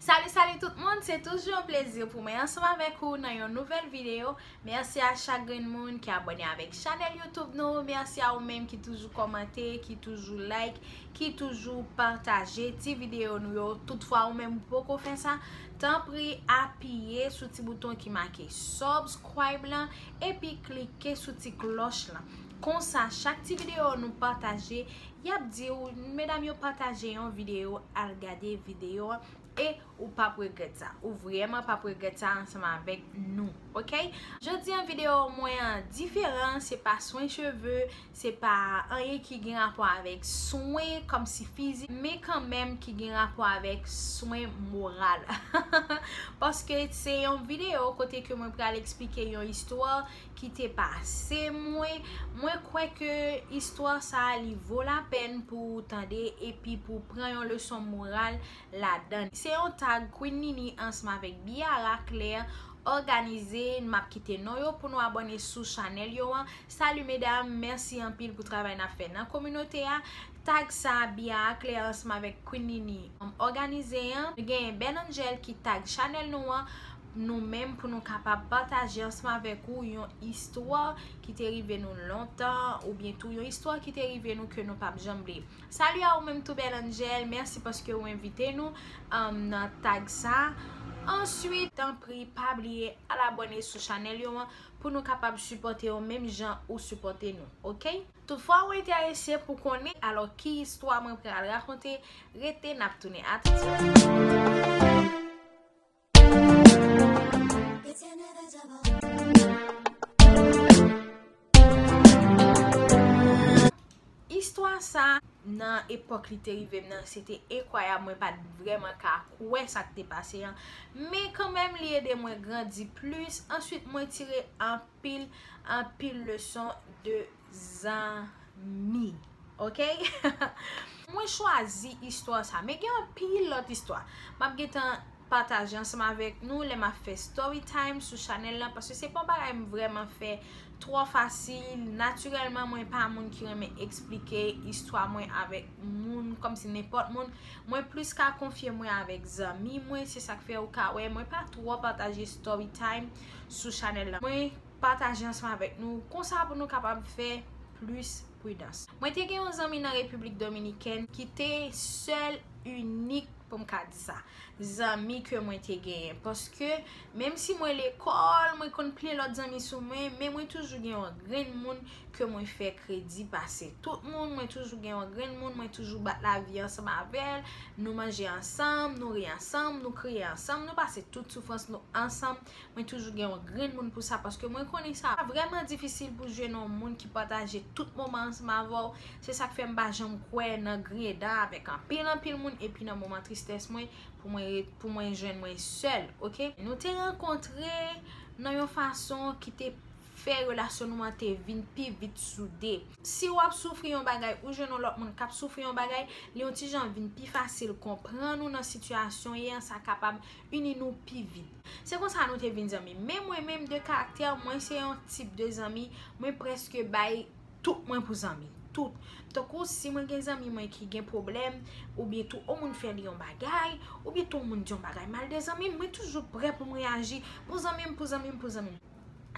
Salut salut tout moun, se toujou yon plezi pou mwen ansanm avèk ou nan yon nouvèl video, mèsi a chak grenn moun ki abòne avèk chanèl youtube nou, mèsi a ou menm ki toujou kòmante, ki toujou like, ki toujou pataje ti video nou yo, tout fwa ou menm ou poko fè sa, tanpri apiye sou ti bouton ki make subscribe lan, epi klike sou ti klòch lan, konsa chak ti video nou pataje Yap diw medam yo pataje yon video al gade video an e ou pap regrèt sa ou vrèman pap regrèt sa ansanm avèk nou ok jodi an video mwen an diferan se pa swen cheve se pa anyen ki gen rapò avèk swen kòmsi fizik men kanmèm ki gen rapò avèk swen moral paske se yon video kote ke mwen pral eksplike yon istwa ki te pase mwen, mwen kwè ke istwa sa a li vo la pèn pou ou tande epi pou w pran yon leson moral ladan l. Se yon tag Queen Nini ansanm avèk Biara Claire òganize, m ap kite non yo pou nou abòne sou chanèl yo an. Salut mesdames, mèsi anpil pou travay n ap fè nan kominote a. Tag sa Biara Claire ansanm avèk Queen Nini òganize an, nou genyen Ben Angel ki tag chanèl nou an. nou menm pou nou kapab pataje ansanm avèk ou yon istwa ki te rive nou lontan ou byen tou yon istwa ki te rive nou ke nou pap janm bliye. Salut a ou menm tou bèl Angel, mèsi paske ou envite nou nan tag sa. Answit, tanpri pa bliye al abòne sou chanèl yo an pou nou kapab sipòte yo menm jan ou sipòte nou ok. Toutfwa ou enterese pou konnen alò ki istwa mwen pral rakonte, rete nap tounen. A tout swit! Istwa sa nan epòk li te rive m nan se te enkwayab mwen pa t vrèman ka kwè sa k te pase an men kanmenm li ede mwen grandi plis answit mwen tire anpil anpil leson de zanmi ok mwen chwazi istwa sa men gen anpil lòt istwa map gentan pataje ansanm avèk nou lè map fè story time sou chanèl lan paske se pa yon bagay m vrèman fè twò fasil natirèlman mwen pa moun ki renmen eksplike istwa mwen avèk moun kòm si nenpòt moun mwen plis ka konfye mwen avèk zanmi mwen se sak fè ou ka wè mwen pa twò pataje story time sou chanèl lan mwen Pataje ansanm avèk nou konsa pou nou kapab fè plis pridans. Mwen te gen yon zanmi nan Repiblik Dominikèn ki te sèl inik pou m ka di sa zanmi ke mwen te genyen paske menm si mwen lekòl mwen konn plen lòt zanmi sou mwen men mwen toujou gen yon grenn moun ke mwen fè kredi pase tout moun mwen toujou gen yon grenn moun mwen toujou bat lavi ansanm avè l nou manje ansanm nou ri ansanm nou kriye ansanm nou pase tout soufrans nou ansanm Mwen toujou gen yon grenn moun pou sa paske mwen konnen sa vrèman difisil pou jwenn yon moun ki pataje tout moman ansanm avè w. Se sa k fè m pa janm kwè nan griyen dan avèk anpil anpil moun epi nan moman tristès mwen pou mwen pou mwen jwenn mwen sèl ok. Nou te rankontre nan yon fason ki te fè relasyon nou an te vin pi vit soude. Si w ap soufri yon bagay ou jwenn yon lòt moun k ap soufri yon bagay li yon ti jan vin pi fasil konprann ou nan sitiyasyon w ye an sa kapab Uni nou pi vit. Se konsa nou te vin zanmi. Men mwen menm de karaktè mwen se yon tip de zanmi mwen preske bay tout mwen pou zanmi. Tout. Tankou si mwen gen zanmi mwen ki gen pwoblèm ou byen tou yon moun fè li yon bagay ou byen tou yon moun di yon bagay mal de zanmi m mwen toujou prè pou m reyaji pou zanmi m pou zanmi m pou zanmi m.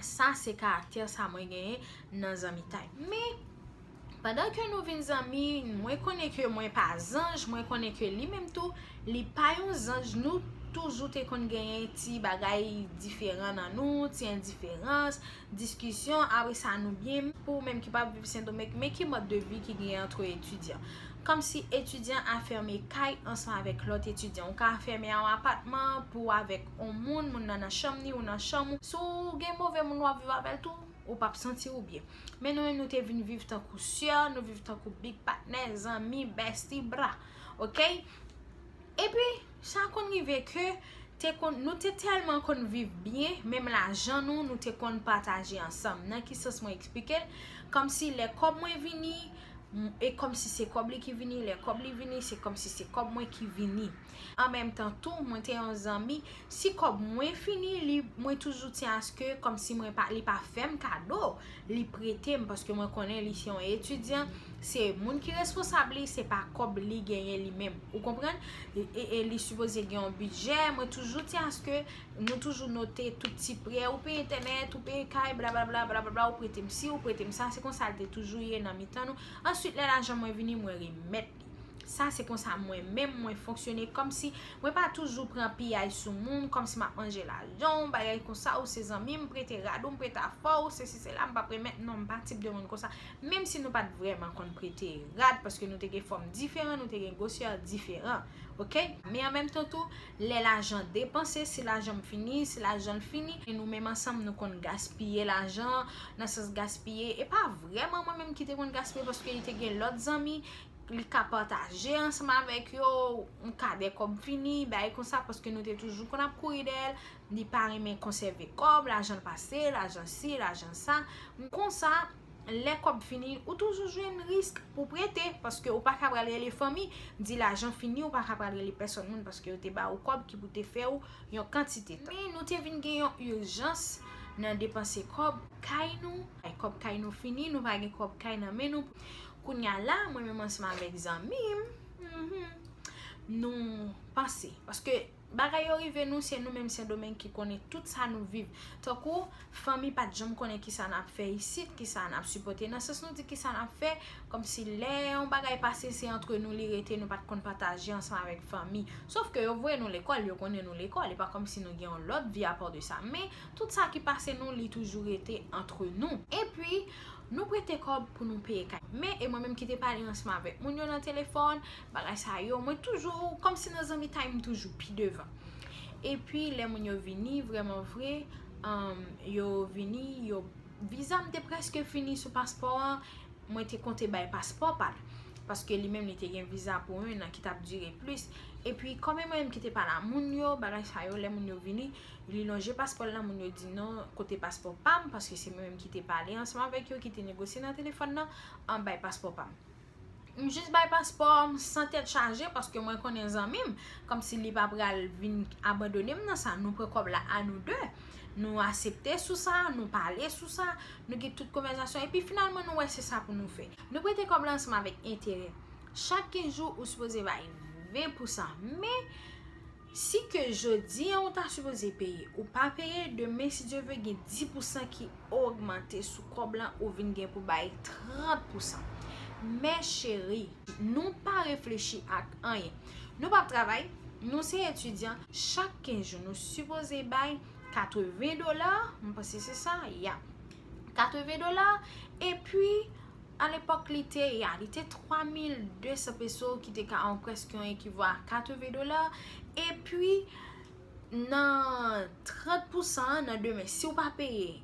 Sa se karaktè sa mwen genyen nan zanmitay. Men. Pandan ke nou vin zanmi, mwen konnen ke mwen pa zanj, mwen konnen ke li menm tou, li pa yon zanj, nou toujou te konn genyen ti bagay diferan nan nou, ti endiferans, diskisyon, a wi sa nou byen, pou ou menm ki pa viv Sendomeng, men ki mòd de vi ki genyen antre etidyan. Kòm si etidyan afème kay ansanm avèk lòt etidyan. Ou ka afème yon apatman pou ou avèk yon moun, moun nan nan chanm ni ou nan chanm ou. Si w gen move moun w ap viv avè l tou, ou pap santi ou byen. Men nou menm nou te vin viv tankou sè, nou viv tankou big patnè, zanmi, besti, bra. Ok? E pi, sa konn rive ke, nou te telman konn viv byen, menm lajan nou, nou te konn pataje ansanm. Nan ki sans mwen eksplike? Kom si lè kob mwen vini, e kom si se kob li ki vini, lè kob li vini, se kom si se kob mwen ki vini. An menm tan tou mwen te yon zanmi si kòb mwen fini li mwen toujou tyen aske kòm si mwen pa li pa fèm kado li prete m paske mwen konnen li se yon etidyan se moun ki responsab li se pa kòb li genyen li menm ou konprann e li sipoze gen yon bidjè mwen toujou tyen aske nou toujou note tout ti prè ou peye entènèt ou peye kay bla bla bla bla bla bla ou prete m si ou prete m sa se konsa l te toujou ye nan mitan nou answit lè lajan mwen vini mwen remèt Sa se konsa mwen menm mwen fonksyone kòmsi mwen pa toujou pran piyay sou moun kòmsi map manje lajan w bagay konsa ou se zanmi m prete rad ou m prete afè w sesi sela m pap remèt non m pa tip de moun konsa menm si nou pat vrèman konn prete rad paske nou te gen fòm diferan nou te gen gwosè diferan ok men an menm tan tou lè lajan depanse, si lajan m fini, si lajan l fini, e nou menm ansanm nou konn gaspiye lajan, nan sans gaspiye, e pa vrèman mwen menm ki te konn gaspiye paske li te gen lòt zanmi, li ka pataje ansanm avèk yo, m ka dè kòm fini, bagay konsa, paske nou te toujou konn ap kouri dèyè l. Li pa renmen konsève kòb, lajan l pase, lajan si, lajan sa. Konsa, lè kòb fini, ou toujou jwenn risk pou prete, paske ou pa ka pral rele fanmi, di lajan fini, ou pa ka pral rele pèsòn moun paske yo te ba ou kòb ki pou te fè ou yon kantite tan. Men nou te vin gen yon urjans nan depanse kòb kay nou, kòb kay nou fini, nou pa gen kòb kay nan men nou. Kounye a la, mwen menm ansanm avèk zanmi m, nou panse, paske. Bagay yo rive nou se nou menm sendomeng ki konnen tout sa nou viv tankou fanmi pat janm konnen kisa nap fè isit kisa nap sipòte nan sans nou di kisa nap fè kòmsi lè yon bagay pase se antre nou li rete nou pat konn pataje ansanm avèk fanmi sof ke yo voye nou lekòl yo konnen nou lekòl e pa kòmsi nou gen yon lòt vi apò de sa men tout sa ki pase nou li toujou rete antre nou epi nou prete kòb pou nou peye kay men e mwen menm ki te pale ansanm avèk moun yo nan telefòn bagay sa yo mwen toujou kòm si nan zanmitay m toujou pi devan epi lè moun yo vini vreman vre yo vini yo viza m te preske fini sou paspò an mwen te konte bay paspò pa l paske li menm li te gen viza pou 1 an ki t ap dire plis epi kòm e mwen menm ki te pa la moun yo bagay sa yo lè moun yo vini li lonje paspò l la moun yo di non kote paspò pa m paske se mwen menm ki te pale ansanm avèk yo ki te negosye nan telefòn nan bay paspò pa m. M jis bay paspò m san tèt chaje paske mwen konnen zanmi m kòmsi li pa pral vin abandone m nan sa nou pran kòb la a nou de nou asepte sou sa nou pale sou sa nou gen tout konvèzasyon epi finalman nou wè se sa pou nou fè nou prete kòb la ansanm avèk enterè chak 15 jou ou sipoze bay 20 pou sa men Si ke jodi an ou ta sipoze peye ou pa peye demen si Dye ve gen 10 pou san ki ogmante sou kòb lan ou vin gen pou bay 30 pou san mè cheri nou pa reflechi ak anyen nou pap travay nou se etidyan chak 15 jou nou sipoze bay 80 dola mwen panse se sa yap 80 dola epi A lepòk li te, ya, li te 3200 peso ki te ka an prèske yon ekivo a 80 dola e pi nan 30 pousan an nan demen si ou pa peye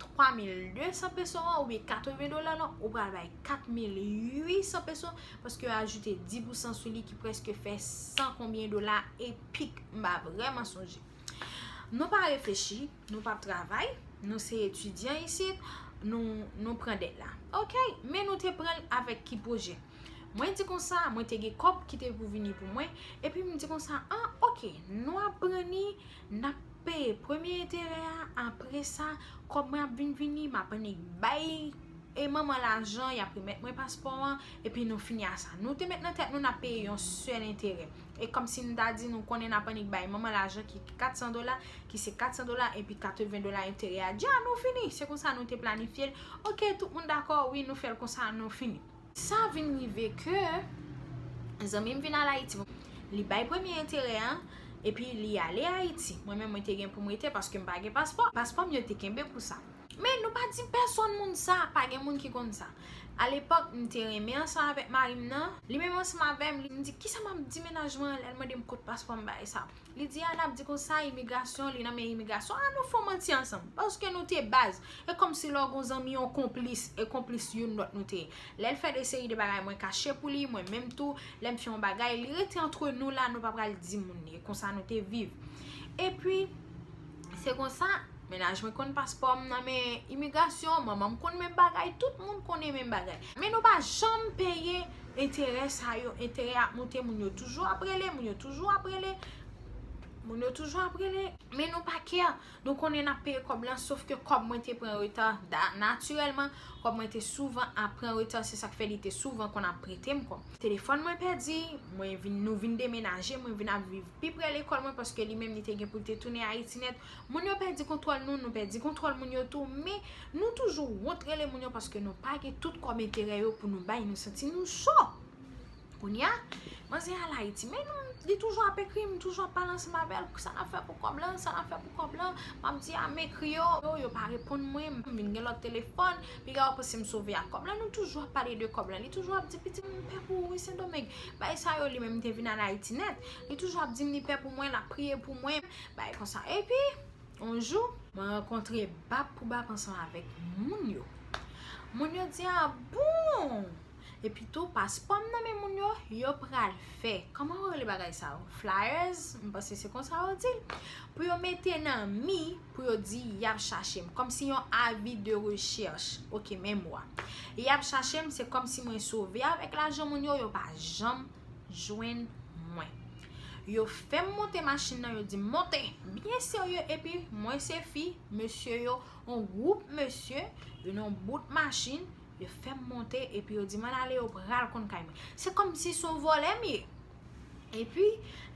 3200 peso an ou byen 80 dola lan ou pral bay 4800 peso paske yo ajoute 10 pousan sou li ki prèske fè 100 konbyen dola e pik m pa vrèman sonje. Nou pa reflechi, nou pap travay, nou se etidyan isit, nou pran dèt la. Ok, men nou te pran l avèk ki pwojè? Mwen di konsa, mwen te gen kòb ki te pou vini pou mwen, epi m di konsa, an, ok, nou ap pran li, n ap peye premye enterè a, apre sa, kòb mwen ap vin vini, m ap annik bay e manman lajan, y ap remèt mwen paspò an, epi nou fini a sa. Nou te met nan tèt nou n ap peye yon sèl enterè. E kòm si m ta di nou konnen n ap annik bay manman lajan ki 400 dola, ki se 400 dola epi 80 dola enterè a. Dja, nou fini! Se konsa nou te planifye l. Ok, tout moun dakò, wi, nou fè l konsa, nou fini. Sa vin rive ke zanmi m vin al Ayiti. Li bay premye enterè an, epi li ale Ayiti. Mwen menm, mwen te gen pou m rete paske m pa gen paspò. Paspò m yo te kenbe pou sa. Men nou pa di pèsonn moun sa, pa gen moun ki konn sa. Alepòk, m te renmen ansanm avèk mari m nan. Li menm ansanm avè m, m di, kisa m ap di mennaj mwen an lè l mande m kot paspò m bay sa. Li di, a n ap di konsa, imigrasyon, li nan men imigrasyon. A nou fè yon manti ansanm. Paske nou te baz. E kòmsi lè w gen yon zanmi yon konplis, e konplis youn lòt nou te ye. Lè l fè de seri de bagay mwen kache pou li, mwen menm tou, lè m fè yon bagay, li rete antre nou la, nou pa pral di moun. E konsa nou te viv. Epi. Se konsa, mennaj mwen konn paspò m nan men imigrasyon, manman m konn menm bagay, tout moun konnen menm bagay. Men nou pa janm peye enterè sa yo, enterè ap moute, moun yo toujou ap rele, moun yo toujou ap rele, moun yo toujou ap rele. Men nou pa kè, nou konnen n ap peye kòb lan, sof ke kòb mwen te pran reta, natirèlman, kòb mwen te souvan ap pran reta, se sa k fè li te souvan konn ap prete m kòb. Telefòn mwen pèdi, mwen vin, nou vin demenaje, mwen vin ap viv. pi prè lekòl mwen paske li menm li te gen pou l te tounen Ayiti nèt. Moun yo pèdi kontwòl nou, nou pèdi kontwòl moun yo tou, men nou toujou wont rele moun yo paske nou pa gen tout kòb enterè yo pou nou bay, nou santi nou cho. Kounye a, manzè al Ayiti, men nou, li toujou ap ekri m, m toujou ap pale ansanm avè l, sa n ap fè pou kòb lan, sa n ap fè pou kòb lan, m ap di a m ekri yo, yo pa reponn mwen, m vin gen lòt telefòn. Piga ou panse m sove ak kòb la nou toujou ap pale de kòb la li toujou ap di pitit mwen m pè pou ou wi sendomeng bay sa yo li menm te vin al ayiti nèt li toujou ap di m li pè pou mwen lap priye pou mwen bay konsa epi yon jou mwen rankontre bab pou bab ansanm avèk moun yo moun yo di a bon Epi tou paspò m nan men moun yo, yo pral fè, kòman yo rele bagay sa yo, flyers, m panse se konsa yo di l, pou yo mete nan mi, pou yo di y ap chache m, kòm si yon avi de rechèch, ok menm mo a. Y ap chache m, se kòm si mwen sove avèk lajan moun yo, yo pa janm jwenn mwen. Yo fè m monte machin nan, yo di m monte, byen serye, epi mwen se fi, mesye yo, yon gwoup mesye, yon bout machin, Yo fè m monte epi yo di m ann ale yo pral konn kay mwen. Se kòmsi son vòlè m ye. Epi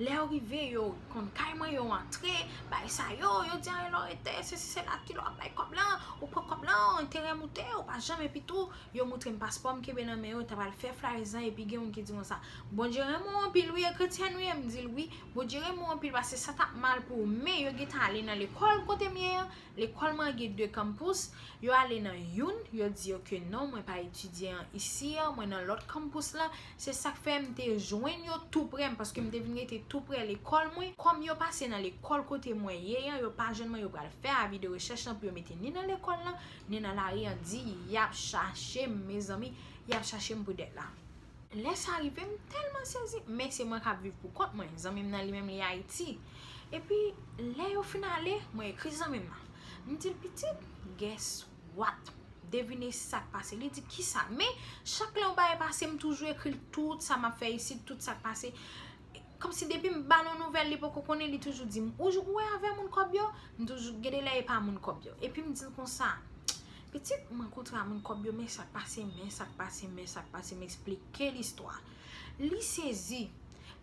lè yo rive yo konn kay mwen yo antre bay sa yo, yo di anrè lò rete se si se la kilò ap bay kòb lan, ou pran kòb lan, enterè moute ou pa janm epi tou yo moutre m paspò m kenbe nan men yo ta pral fè flyers lan epi gen youn ki di konsa Bondye renmen w anpil wi e kretyenn ou ye m di l wi Bondye renmen w anpil paske sa tap mal pou ou men yo gentan ale nan lekòl kote m ye an Lekòl mwen an gen 2 campus, yo ale nan youn, yo di yo ke non mwen pa etidye an isi an, mwen nan lòt campus la, se sak fè m te jwenn yo tou prè m paske m te vin rete tou prè lekòl mwen, kòm yo pase nan lekòl kote mwen ye an, yo pa jwenn mwen yo pral fè avi de rechèch lan pou yo mete ni nan lekòl lan, ni nan lari an di yap chache m mezanmi, yap chache m pou dèt la. Lè sa rive m tèlman sezi, men se mwen k ap viv pou kont mwen, zanmi m nan li menm li Ayiti. Epi, lè yo fin ale, mwen ekri zanmi m nan. M di l, Pitit, guess what? Devine sa k pase? Li di, Kisa? Men, chak lè yon bagay pase, m toujou ekri l tout sa m ap fè isit, tout sa k pase. Kòmsi depi m ba l yon nouvèl li poko konnen, li toujou di m, Ou wè avè moun kòb yo? M toujou, gen de lè e pa moun kòb yo. Epi m di l konsa, Pitit mwen kontra moun kòb yo men sak pase men sak pase men sak pase m esplike l istwa li sezi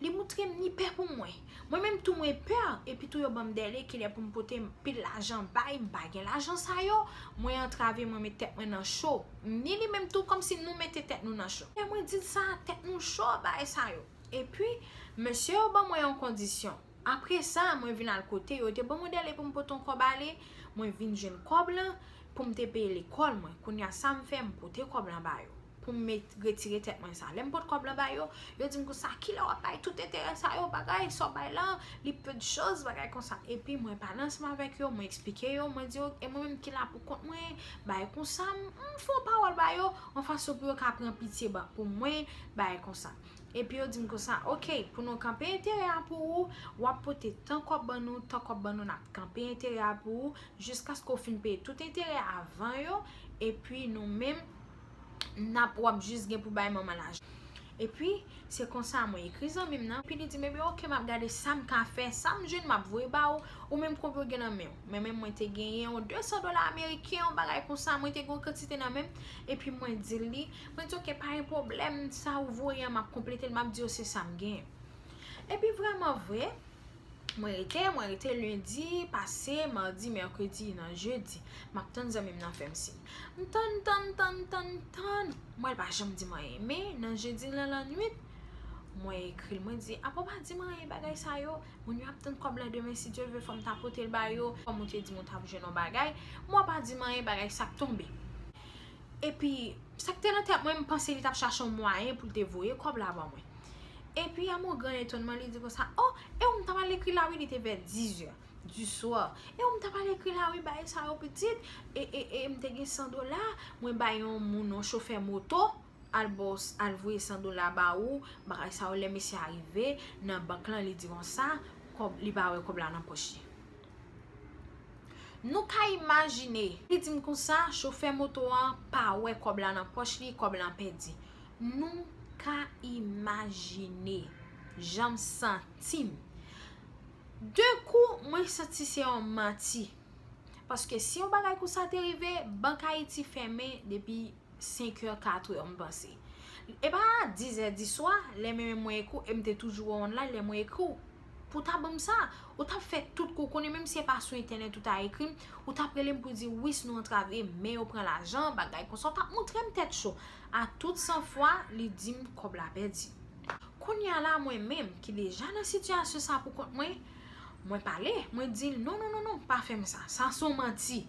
li moutre m li pè pou mwen mwen menm tou mwen pè epi tou yo banm dèle kilè pou m pote pil lajan bay m pa gen lajan sa yo mwen antrave mwen met tèt mwen nan cho ni li menm tou kòmsi nou mete tèt nou nan cho lè mwen di l sa tèt nou cho bay sa yo epi mesye yo ban mwen yon kondisyon Apre sa, mwen vin al kote yo te ban mwen dèle pou m pote yon kòb ale, mwen vin jwenn kòb lan pou m te peye lekòl mwen. Kounye a, sa m fè? M pote kòb lan ba yo pou m retire tèt mwen sa. Lè m pot kòb lan ba yo, yo di m konsa, Kilè w ap bay tout enterè sa yo? Bagay sa w bay la, li peu de chose, bagay konsa. Epi mwen pale ansanm avèk yo, mwen esplike yo, mwen di yo, e mwen menm ki la pou kont mwen, bagay konsa. M fè yon pawòl ba yo, yon fason pou yo ka pran pitye pou mwen, bagay konsa. Epi yo dim konsa ok pou nou kanpe enterè a pou ou wap pote tan kòb ban nou tan kòb ban nou nap kanpe enterè a pou ou jiskaske ou fin peye tout enterè avan yo epi nou menm nap wap jis gen pou bay manman lajan epi se konsa mwen ekri zanmim nan epi li dim ebyen ok map gade sam ka fè sam jwenn map voye ba ou ou menm konbyen ou gen nan menw mwen menm mwen te genyen yon 200 dola ameriken yon bagay konsa mwen te gen yon kantite nan menm epi mwen dil li. Mwen di ok pa gen pwoblèm, sa ou voye an m ap konplete l, m ap di yo se sa m gen. Epi vreman vre, mwen rete, mwen rete, lendi pase, madi, mèkredi, nan jedi, m ap tann zanmi m nan fè m siy. M tann, tann, tann, tann, tann, m wè l pa janm di m anyen. Men, nan jedi lan lannuit, mwen ekri l, mwen di, apa w pa di m anyen bagay sa yo? Moun yo ap tann kòb la demen si Dye vle fò m ta pote l ba yo, kòm ou te di m ou t ap jwenn yon bagay. M wè w pa di m anyen, bagay sa ap tonbe. Epi, sa ki te nan tèt mwen, m panse li t ap chache yon mwayen pou l te voye kòb la ban mwen. Epi, a mon gran etonman, li di konsa, O, e ou m ta pral ekri la wi, li te vè dizè di swa. E ou m ta pral ekri la wi, bay sa yo pitit. E, e, e, m te gen san dola, mwen bay yon moun, yon chofè moto, al ba w, al voye san dola ba ou, bagay sa yo. Lè mesye a rive nan bank lan, li di konsa, kòb, li pa wè kòb la nan pòch li. Nou ka imajine. Li di m konsa, chofè moto an pa wè kòb la nan pòch li, kòb lan pèdi. Nou ka imajine jan m santi m. De kou, mwen santi se yon manti. Paske si yon bagay konsa te rive, Bank Ayiti fèmen depi 5 è 4 è m panse e pa 10 è diswa lè menm mwen ekri w e m te toujou wè w online lè mwen ekri w pou w ta ban m sa ou t ap fè tout kou konnen menm si e pa sou entènèt ou ta ekri m ou t ap rele m pou di wi si nou antrave men yo pran lajan bagay konsa ou t ap montre m tèt cho a tout san fwa li di m kòb la pèdi kounye a la mwen menm ki deja nan sitiyasyon sa poukont mwen mwen pale mwen di l non non non non pa fè m sa sa son manti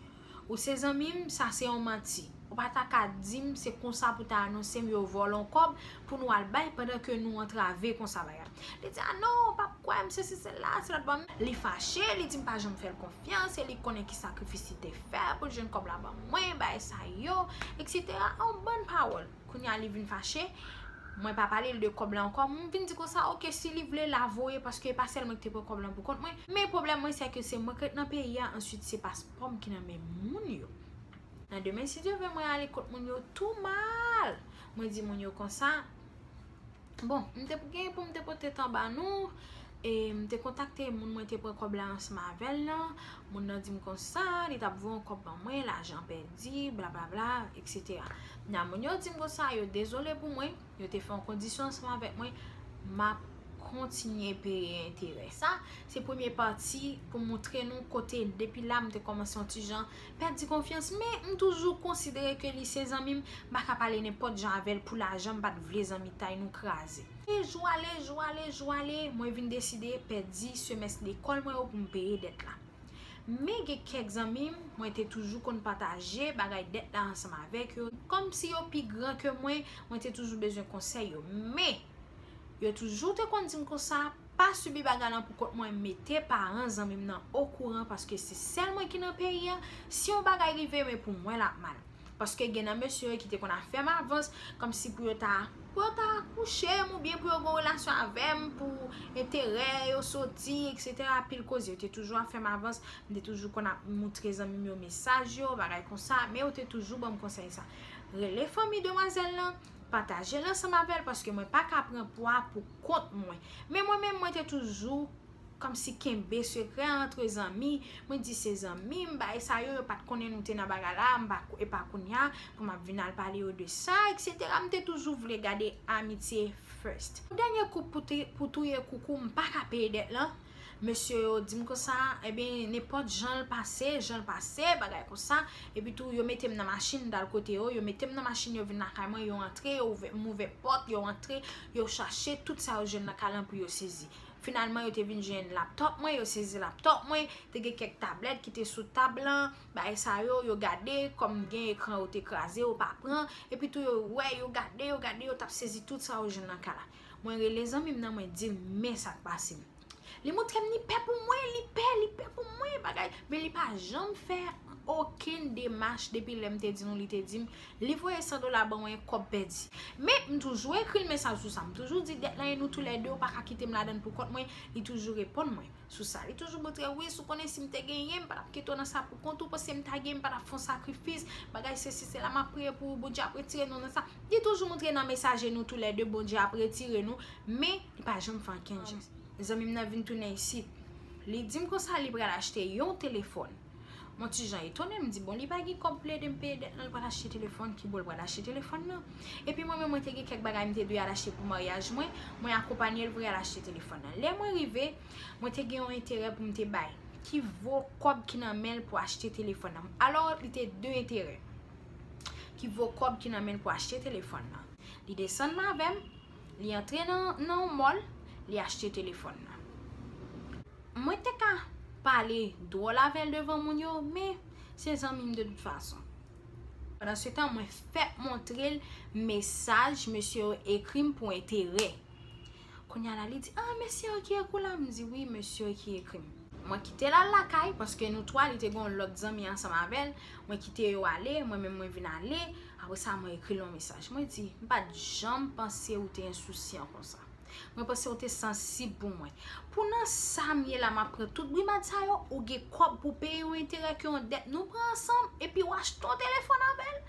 Ou se zanmi m sa se yon manti ou pa ta ka di m se konsa pou ta anonse m yo vòlò w kòb pou nou al bay pandan ke nou antrave konsa bagay li di a non ou pap kwè m sesi sela se lòt bò li fache li di m pa janm fè l konfyans e li konnen ki sakrifis li te fè pou l jwenn kòb la ban mwen bagay sa yo eksetera an bann pawòl. Kounye a li vin fache, mwen pa pale l de kòb la ankò, m vin di konsa ok si li vle la voye paske e pa sèl mwen ki te pran kòb lan pou kont mwen, men pwoblèm mwen sè ke se mwen ki ret nan peyi a answit se paspò m ki nan men moun yo. Nan demen si Dye vle mwen ale kot moun yo tou mal, mwen di moun yo konsa. Bon, m te gen pou m te pote tan ba nou, e m te kontakte moun mwen te pran kòb la ansanm avè l lan, moun nan di m konsa, li t ap voye yon kòb ban mwen, lajan pèdi, blablabla, eksetera. Kounye a moun yo di m konsa, yo dezole pou mwen, yo te fè yon kondisyon ansanm avèk mwen, m ap kontinye peye enterè. Sa, se premye pati pou m montre nou kote depi la m te kòmanse yon ti jan pèdi konfyans men m toujou konsidere ke li se zanmi m m pa ka pale nenpòt jan avè l pou lajan m pa t vle zanmitay nou kraze. Jou ale jou ale jou ale mwen vin deside pèdi semès lekòl mwen yo pou m peye dèt la men gen kèk zanmi m mwen te toujou konn pataje bagay dèt la ansanm avèk yo kòmsi yo pi gran ke mwen mwen te toujou bezwen konsèy yo men yo toujou te konn di m konsa Pa sibi bagay lan pou kont mwen mete paran zanmim nan okouran paske se sèl mwen ki nan peyi an si yon bagay rive men pou mwen lap mal paske gen nan mesye yo ki te konn afèm avans kòmsi pou yo ta pou yo ta kouchem ou byen pou yo gon relasyon avèm pou enterè yo soti etc pil koze yo te toujou afèm avans m te toujou konn ap moutre zanmim yo mesaj yo bagay konsa men yo te toujou banm konsèy sa rele fanmi demwazèl lan Patajel ansanm avèl paske mwen paka pran pwa pou kont mwen. Men mwen menm mwen te toujou kòmsi kenbe sekrè an antre zanmi, mwen di se zanmim bagay sa yo, yo pat konnen nou te nan bagay la, e pa kounya pou map vin al pale yo de sa etc. M te toujou vle gade amitye first. Dènye koup pou touye koukou m paka peye dèt lan. Mesye yo di m konsa, enben nenpòt jan l pase, jan l pase, bagay konsa, epi tou yo mete m nan machin, m t al kote yo, yo mete m nan machin, yo vin lakay mwen, yo antre, yo ouvè, m ouvè pòt, yo antre, yo chache tout sa yo jwenn nan kay lan pou yo sezi. Finalman yo te vin jwenn laptop mwen, yo sezi laptop mwen, te gen kèk tablèt ki te sou tab lan, bagay sa yo, yo gade, kòm gen ekran yo te kraze, yo pa pran, epi tou yo wè, yo gade, yo gade, yo t ap sezi tout sa yo jwenn nan kay la. Mwen rele zanmi m nan mwen di l men sa k pase m. Li montre m li pè pou mwen, li pè, li pè pou mwen bagay. Men li pa janm fè okenn demach depi lè m te di nou li te di m li voye 100 dola ban mwen kòb pèdi. Men m toujou ekri l mesaj sou sa. M toujou di dèt lan e nou toulède ou pa ka kite m ladan l pou kont mwen, li toujou reponn mwen. sou sa li toujou montrem wi sou konnen sim te genyen m patap kite w nan sa pou kont ou paske m ta genyen m patap fè yon sakrifis bagay sesi sela map priye pou ou Bondye ap retire nou nan sa li toujou montre nan mesaje nou tou lè 2 Bondye ap retire nou men li pa janm fè ankenn jès zanmim nan vin tounen isit li dim konsa li pral achte yon telefòn. Mon ti jan etone m di bon li pa gen kòb pou l ede m peye dèt lan l pral achte telefòn ki bo l pral achte telefòn nan epi mwen menm mwen te gen kèk bagay m te dwe al achte pou maryaj mwen mwen akonpanye l pou y al achte telefòn nan lè mwen rive mwen te gen yon enterè pou m te bay ki vo kòb ki nan men l pou achte telefòn nan alò li te de enterè ki vo kòb ki nan men l pou achte telefòn nan li desann avè m li antre nan yon mòl li achte telefòn nan. Mwen te ka pale dwòl avè l devan moun yo, men se zanmi m de tout fason. Pandan se tan, mwen fè montre l mesaj mesye yo ekri m pou enterè. Kounya la li di, a mesye yo ki ekri w la? M di, wi mesye yo ki ekri m. Mwen kite l al lakay, paske nou twa li te gen yon lòt zanmi ansanm avè l. Mwen kite yo ale, mwen menm mwen vin ale. Apre sa mwen ekri l yon mesaj. Mwen di, m pa t janm panse ou te ensousyan konsa. Mwen panse ou te sansib pou mwen. Pou nan sa m ye la map pran tout brimad sa yo, ou gen kòb pou peye yon enterè ke yon dèt nou pran ansanm, epi w achte yon telefòn avèl?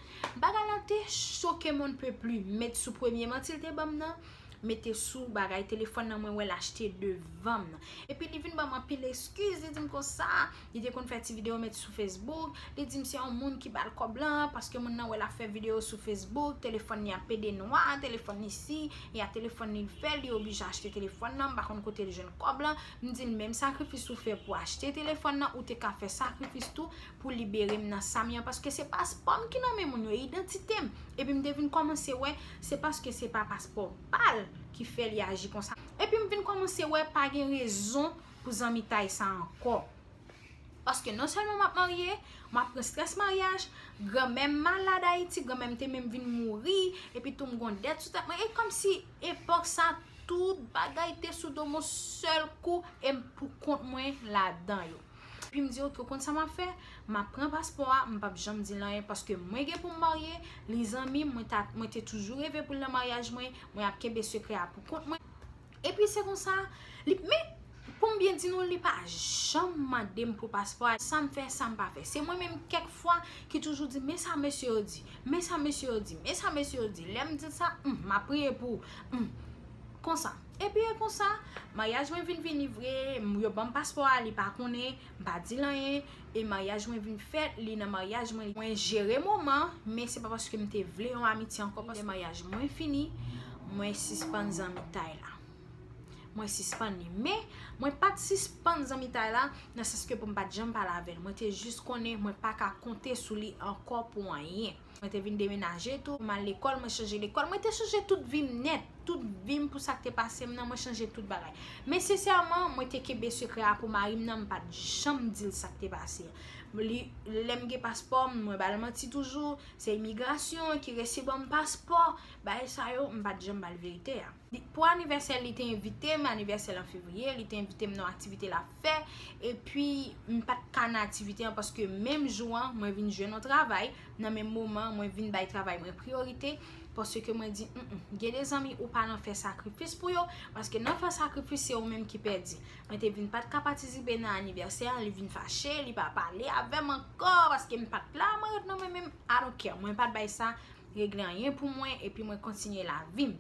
Bagay la te choke m on ne peut plus, m met sou premye manti l te banm nan, m mete sou bagay telefòn nan mwen wè l achte devan m nan. Epi li vin banm anpil eskiz, li di m konsa, Li te konn fè ti video met sou Facebook, li dim se yon moun ki bal kòb lan, paske moun nan wè lap fè video sou Facebook, telefòn li a pede nwa, telefòn li si, e a telefòn li l fè, li oblije achte telefòn nan, m pa konn kote l jwenn kòb lan, m dil menm sakrifis ou fè pou achte telefòn nan, ou te ka fè sakrifis tou pou libere m nan sa m ye an, paske se paspò m ki nan men moun yo, idantite m, epi m te vin kòmanse wè se paske se pa paspò pal ki fè li aji konsa, epi m vin kòmanse wè pa gen rezon. pou zanmitay sa ankò. Paske non sèlman m ap marye, m ap pran strès maryaj, granmè m malad Ayiti, granmè m te menm vin mouri, epi tou m gon dèt sou tèt mwen. E kòm si epòk sa tout bagay te sou do m yon sèl kou e m pou kont mwen ladan yo. Epi m di ok, ou konn sa m ap fè? M ap pran paspò a, m p ap janm di l anyen paske mwen gen pou m marye, li zanmi m, mwen te toujou reve pou l nan maryaj mwen, mwen ap kenbe sekrè a pou kont mwen. Epi se konsa li men pou m byen di nou li pa janm mande m pou paspò a sa m fè sa m pa fè se mwen menm kèk fwa ki toujou di men sa mesye yo di men sa mesye yo di men sa mesye yo di lè m di l sa m m ap priye pou m konsa epi e konsa maryaj mwen vin vini vre yo ban m paspò a li pa konnen. M pa dil anyen e maryaj mwen vin fèt li nan maryaj mwen mwen jere moman men se pa paske m te vle yon amitye ankò paske lè maryaj mwen fini mwen sispann zanmitay la mwen sispann li men mwen pat sispann zanmitay la nan sans ke pou m pat janm pale avèl mwen te jis konnen mwen pa ka konte sou li ankò pou anyen. Mwen te vin demenaje tou, m al lekòl, mwen chanje lekòl. Mwen te chanje tout vi m nèt. Tout vi m pou sa k te pase m nan, mwen chanje tout bagay. Men sensèman, mwen te kenbe sekrè a pou mari m nan, m pa t janm di l sa k te pase a. Li, lè m gen paspò m, mwen ba l manti toujou. Se imigrasyon ki resi ban m paspò. Bagay sa yo, m pa t janm ba l verite a. Pou anivèsè l, li te envite m, anivèsè l an fevriye, li te envite m nan yon aktivite l ap fè, epi m pa t ka nan aktivite an paske menm jou an mwen vin jwenn yon travay, nan menm moman an mwen vin bay travay mwen priyorite, paske mwen di m m, gen de zanmi ou pa nan fè sakrifis pou yo, paske nan fè sakrifis se ou menm ki pèdi. Mwen te vin pa t ka patisipe nan anivèsè an, li vin fache, li pa pale avè m ankò paske m pa t la, mwen ret nan mwen menm I don't care, mwen pa t bay sa. regle anyen pou mwen epi mwen kontinye lavi m.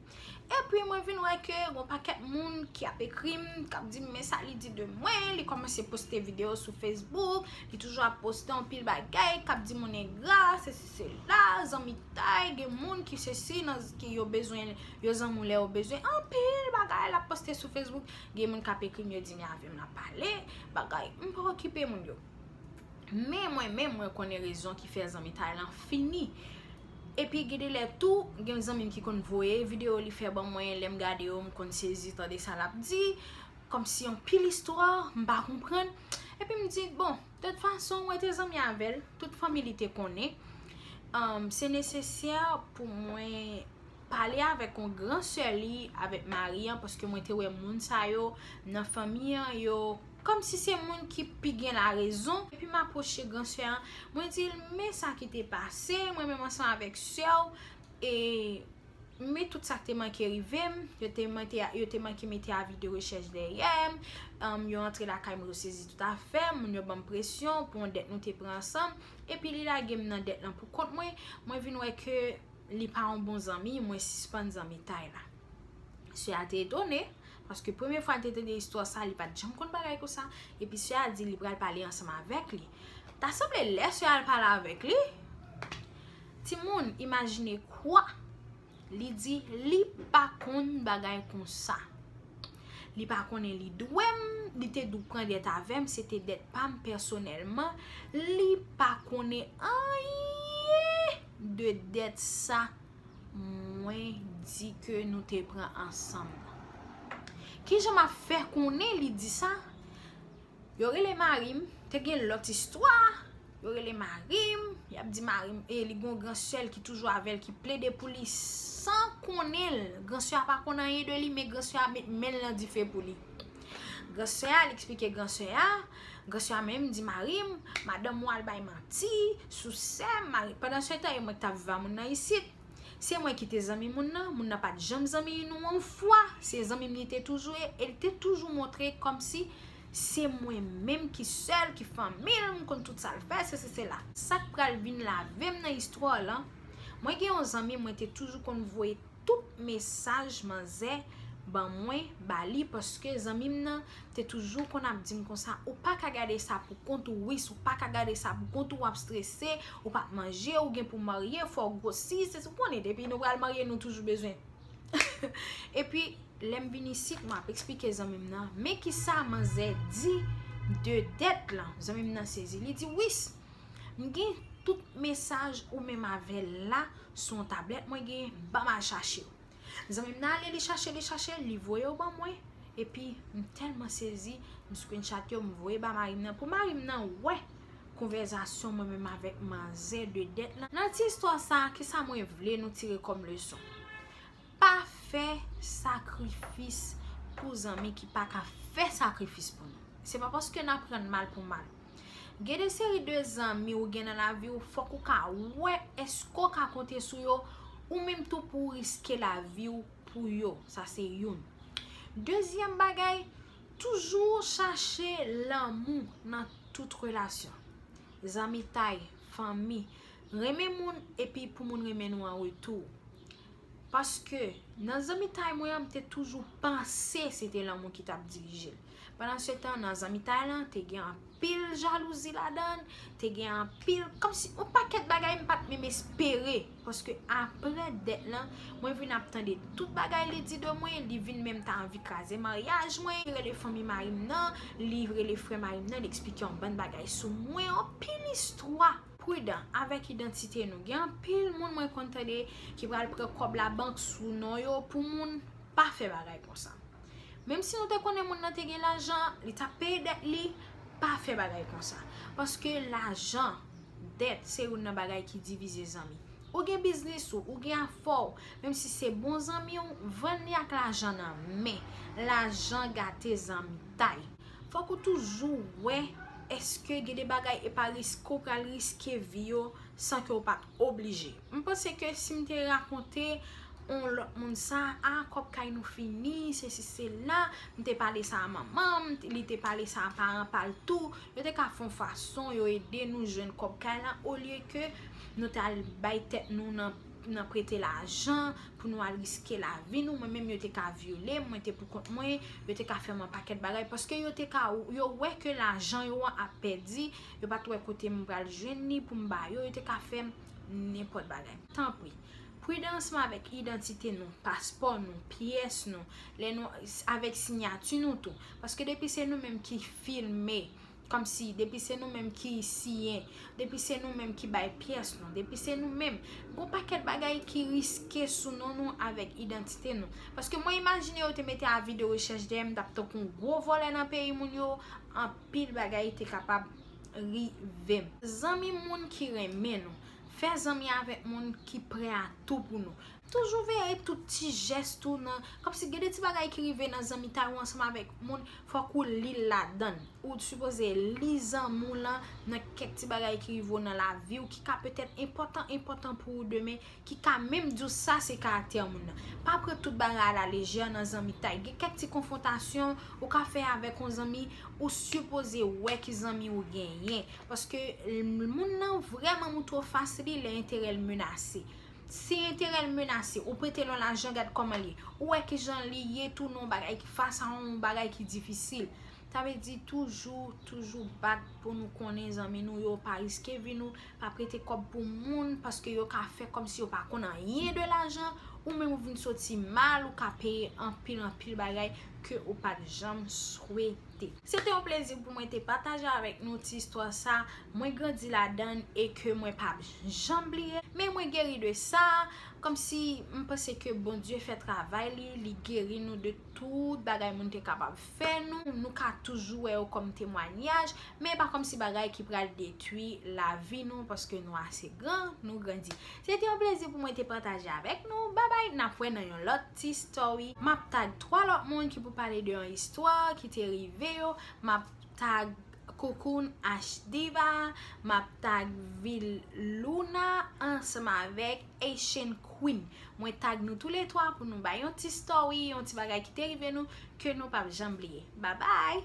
Epi mwen vin wè ke gon pakèt moun ki ap ekri m, k ap di m men sa li di de mwen, li kòmanse poste videyo sou Facebook, li toujou ap poste anpil bagay, k ap di moun engra, sesi sela, zanmitay, gen moun ki sesi, ki yo bezwen, yo zanmi w lè yo bezwen, anpil bagay l ap poste sou Facebook, gen moun k ap ekri m yo di m lave m nan pale, bagay, m pa okipe moun yo. Men mwen menm mwen konnen rezon ki fè zanmitay lan fini. Epi gen de lè tou, gen yon zanmi m ki konn voye videyo li fè ban mwen, lè m gade yo m konn sezi tande sa l ap di, kòmsi yon pil istwa m pa konprann. Epi m di, bon, dòt fason mwen te zanmi avè l, tout fanmi li te konnen, se nesesè pou mwen pale avèk yon gran sè li, avèk mari an, paske mwen te wè moun sa yo nan fanmi an yo. Kòm si se moun ki pi gen larezon, epi m apwoche gran sè an, mwen di l, Men sa ki te pase, mwen menm ansanm avèk sè w, e men tout sa k te manke rive m, yo te manke mete avi de rechèch dèyè m, yo antre lakay m, yo sezi tout afè m, moun yo ban m presyon pou yon dèt nou te pran ansanm, epi li lage m nan dèt lan pou kont mwen, mwen vin wè ke li pa yon bon zanmi, mwen sispann zanmitay la. Sè a te etone, paske premye fwa li te tande istwa sa, li pa t janm konn bagay konsa, epi sè a di li pral pale ansanm avèk li. Ta sanble lè sè a al pale avèk li, timoun imajine kwa, li di li pa konn bagay konsa. Li pa konnen li dwe m, li te dwe pran dèt avè m, se te dèt pa m pèsonèlman, li pa konnen anyen de dèt sa. Mwen di ke nou te pran ansanm. Kijan m ap fè konnen li di sa? Yo rele mari m, te gen lòt istwa, yo rele mari m, y ap di mari m, e li gen yon gran sè l ki toujou avè l ki plede pou li san konnen l. Gran sè a pa konn anyen de li men gran sè a met men l nan dife pou li. Gran sè a, li eksplike gran sè a. Gracia menm di mari m madanm ou al bay manti sou sè m mari pandan se tan e mwen ki tap viv a moun nan isit se mwen ki te zanmi moun nan moun nan pat janm zanmi nou yon fwa se zanmi m li te toujou ye e li te toujou montre kòmsi se mwen menm ki sèl ki fanmi l m konn tout sa l fè sesi sela sak pral vin lave m nan istwa w lan mwen gen yon zanmi mwen te toujou konn voye tout mesaj manzè ban mwen ba li paske zanmi m nan te toujou konn ap di m konsa ou pa ka gade sa pou kont ou Wis ou pa ka gade sa pou kont ou w ap strese ou pa p manje ou gen pou w marye fò w gwosi se ou konnen depi nou pral marye nou toujou bezwen epi lè m vin isit m ap esplike zanmi m nan men kisa manzè di de dèt lan zanmi m nan sezi li di Wis M gen tout mesaj ou menm avè l la sou yon tablèt mwen gen, ban m al chache yo. Zanmi m nan ale li chache, li chache, li voye yo ban mwen, epi m tèlman sezi, m screenshot yo, m voye ba mari m nan, pou mari m nan wè konvèzasyon mwen menm avèk manzè de dèt lan. Nan ti istwa sa a, kisa mwen vle nou tire kòm leson? Pa fè sakrifis pou zanmi ki pa ka fè sakrifis pou nou. Se pa paske n ap rann mal pou mal. Gen de seri de zanmi ou gen nan lavi ou fòk ou ka wè èske ou ka konte sou yo ou menm tou pou ou riske lavi ou pou yo. Sa se youn. Dezyèm bagay, toujou chache lanmou nan tout relasyon. Zanmitay, fanmi, renmen moun epi pou moun renmen nou an retou. Paske, nan zanmitay mwen an, m te toujou panse se te lanmou ki t ap dirije l. Pandansetan, nan zanmitay lan, te gen anpil jalouzi ladan l, te gen anpil, kòmsi yon pakèt bagay m pa t menm espere. Paske apre dèt lan, mwen vin ap tande tout bagay li di de mwen, li vin menm ta anvi kraze maryaj mwen, li rele fanmi mari m nan, li rele frè mari m nan, li eksplike yon bann bagay sou mwen, anpil istwa. Prudan avèk idantite nou gen anpil moun mwen konn tande ki pral pran kòb la bank sou non yo pou moun pa fè bagay konsa menm si nou te konnen moun nan te gen lajan li tap peye dèt li pa fè bagay konsa paske lajan dèt se youn nan bagay ki divize zanmi ou gen biznis ou ou gen afè w menm si se bon zanmi w vann li ak lajan nan men lajan gate zanmitay. Fòk ou toujou wè eske gen de bagay e pa riske ou pral riske vi yo san ke ou pat oblije. M panse ke si m te rakonte on lòt moun sa, a kòb kay nou fini, se si se la, m te pale sa a manman m, li te pale sa a paran pa l tou, yo te ka fè on fason yo ede nou jwenn kòb kay la olye ke nou t al bay tèt nou nan. nan prete lajan, pou nou al riske lavi nou, mwen menm yo te ka vyole m, mwen te pou kont mwen, yo te ka fè m anpakèt bagay, paske yo te ka, yo wè ke lajan yo an ap pèdi, yo pa t wè kote m pral jwenn li pou m ba yo, yo te ka fè m nenpòt bagay. Tanpri, pridansman avèk idantite nou, paspò nou, pyès nou, lè nou, avèk sinyati nou tou, paske depi se nou menm ki filme, Kòmsi depi se nou menm ki siyen, depi se nou menm ki bay pyès nou, depi se nou menm, gon pakèt bagay ki riske sou non nou avèk idantite nou. Paske mwen imajine yo te mete avi de rechèch dèyè m t ap tankou yon gwo vòlè nan peyi moun yo, anpil bagay te kapab rive m. Zanmi moun ki renmen nou. Fè zanmi avèk moun ki prè a tou pou nou. Toujou veye tout ti jès ou nan, kòm si gen de ti bagay ki rive nan zanmitay ou ansanm avèk moun, fòk ou li l ladann. Ou sipoze li zanmi w lan nan kèk ti bagay ki rive w nan lavi w ki ka petèt enpòtan enpòtan pou ou demen, ki ka menm di w sa se karaktè moun nan. Pa pran tout bagay a la lejè nan zanmitay. Gen kèk ti konfwontasyon ou ka fè avèk yon zanmi, ou sipoze wè ki zanmi ou genyen. Paske moun nan vrèman moutre w fas li lè enterè l menase. Si enterè l menase, ou prete l yon lajan gad kòman l ye. Ou wè ki jan li ye tou nan yon bagay ki fas a yon bagay ki difisil. Sa vle di toujou, toujou bat pou nou konnen zanmi nou yo pa riske vi nou, pa prete kòb pou moun paske yo ka fè kòm si yo pa konn anyen de lajan, ou menm ou vin soti mal, ou ka peye anpil anpil bagay ke ou pa t janm swete. te. Se te yon plezi pou mwen te pataje avèk nou ti istwa sa mwen grandi ladann e ke mwen pap janm bliye. Men mwen geri de sa, kòmsi m panse ke Bondye fè travay li, li geri nou de tout bagay moun te kapab fè nou. Nou ka toujou wè yo kòm temwanyaj, men e pa kòmsi bagay ki pral detwi lavi nou paske nou ase gran, nou grandi. Se te yon plezi pou mwen te pataje avèk nou, babay nap wè nan yon lòt ti story. Map tag 3 lòt moun ki pou pale de yon istwa ki te rive yo, map tag Cocoon H-Diva, map tag vil Luna ansanm avèk Haitian Queen. Mwen tag nou tou le 3 pou nou bay yon ti story, yon ti bagay ki te rive nou ke nou pap janm bliye. Babay!